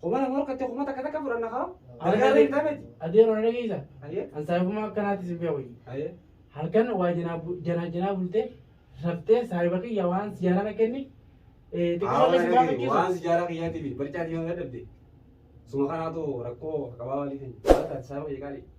Kuma lama ol kattee kuma takka takka fudhanna kaa. Dalagaa beektaa miti. Adeero na dhageessa. Ayyee. An saahibummaa akkanaatti sin beeku. Ayyee. Halkan waa janaa bu- janaa janaa bultee raftee saahiba kiyya waan si jaalana kenni eh, xiqqoo Haawaa akka si dhagee waan gaafachiisu. si jaalaa kiyyaatiif barcaatii waan dadhabde. Suma kanaatu rakkoo qabaa waliin hin. Haala taate saaba kiyya qaalii.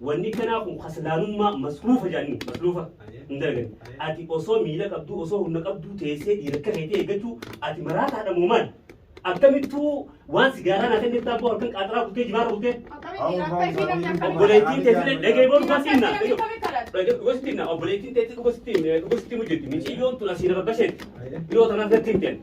Wanni kanaa kun kaslaanummaa masluufa jedhaniin masluufa hin dalagan. Ati osoo miila qabduu osoo humna qabduu teessee dhiira akka keetii eeggachuu ati maraataadha moo maali? Akkamittuu waan sigaaraa naa kennee taaboo halkan qaaxaraa kutee jibaara kutee obboleettiin teessee dhagee booda dhugaa siinna dhugaa siinna obboleettiin teessee dhugaa siin dhugaa siin hojjetti miciyyoon tun asiin abbasheetti dhiyoo tanaaf natti hin kennu.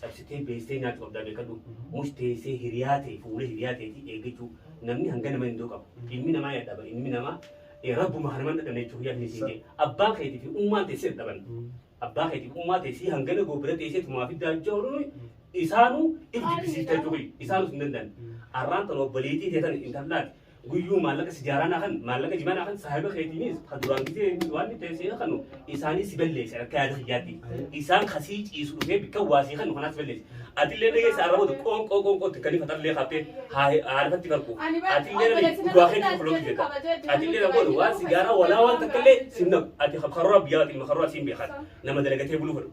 cabsitee beessee nyaatti qabdaa beekadhu. Mush teessee hiriyaa tee fuula hiriyaa teetii eeggachuu namni hanga nama indoo qaba. Ilmi namaa yadha bar ilmi namaa eh, rabbuma kana man dhadhamne jechuu hiyyaa teessii jee abbaan keetii fi ummaan tee si dhadhaban. Abbaa keetii fi ummaa tee si hangana goo bira teessee tumaa fiddaa jawrunu isaanuu if jibbisiiftaa jechuu kiyya isaanus hin danda'an. Arraan tan obboleetii tee tan intallaati guyyuu maallaqa sijaaraa naa kan maallaqa jimaa naa kan saahiba keetiinis kan duraan gisee waan itti seena kanu isaanii si balleesse akka yaada kiyyaatti isaan kasii ciisu dhufee bikka waasii kanu kanaas balleesse atillee na keessa arrabatu qoonqoo qoonqoo itti kanii fatarlee qabtee haadhatti qarqu atillee na dhugaa keetti kofloo jetta atillee na godhu waan sijaaraa walaa waan takkallee simna ati karoora biyyaa ati karoora siin beekan nama dalagatee buluu fedhu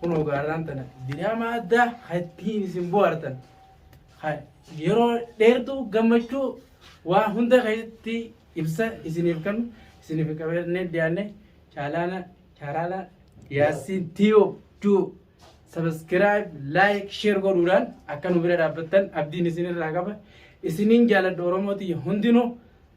kunoo gaarraan tana diraamaa addaa kan ittiin isin bohaartan kan yeroo dheertuu gammachuu waa hunda keessatti ibsa isiniif kennu isiniif qabannee dhiyaanne chaalaana chaalaana yaasiin tiyo tu sabiskiraayib laayik sheer godhuudhaan akka nu bira dhaabbattan abdiin isinirraa qaba isiniin jaaladha oromoo tiyya hundinuu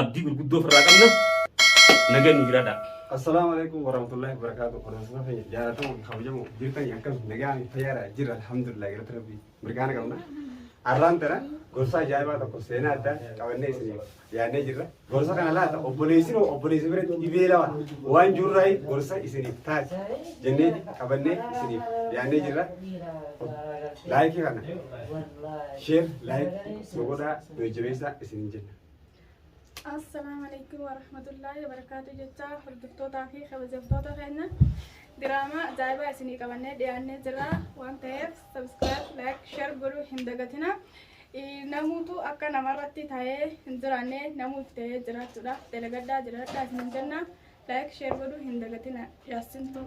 Abdii gurguddoo of irraa qabna. Nagan nu jiraadhaa. Assalamu alaikum warahmatullahi wabarakatuh. Hordoftoota keenya jaalatamoo fi kabajamoo jirtanii akkam nagaa fi fayyaadha jirra alhamdulillah galata rabbii mirgaana qabna. Har'aan tana gorsa ajaa'ibaa tokko seenaa addaa qabannee isin yaadnee jirra. Gorsa kana laata obboleessin hoo obboleessi biratti dhibee lawa waan jirraa gorsa isiniif taati jennee qabannee isiniif yaadnee jirra. Laayikii kana sheer laayik nu godhaa nu jajjabeessaa isin jenna. Assalaamu alaikum warahmatullaahi wabarakaatu jechaa hordoftootaa fi kabajamtoota keenya diraamaa ajaa'ibaa isinii qabannee dhiyaannee jirra waan ta'eef sabiskiraayib laayik sheer godhuu hin dagatina namuutu akka namarratti ta'ee hin jiraanne namuuf ta'ee jiraachuudhaaf dalagadhaa jiraadhaa isin jenna laayik sheer godhuu hin dagatina yaassintuu.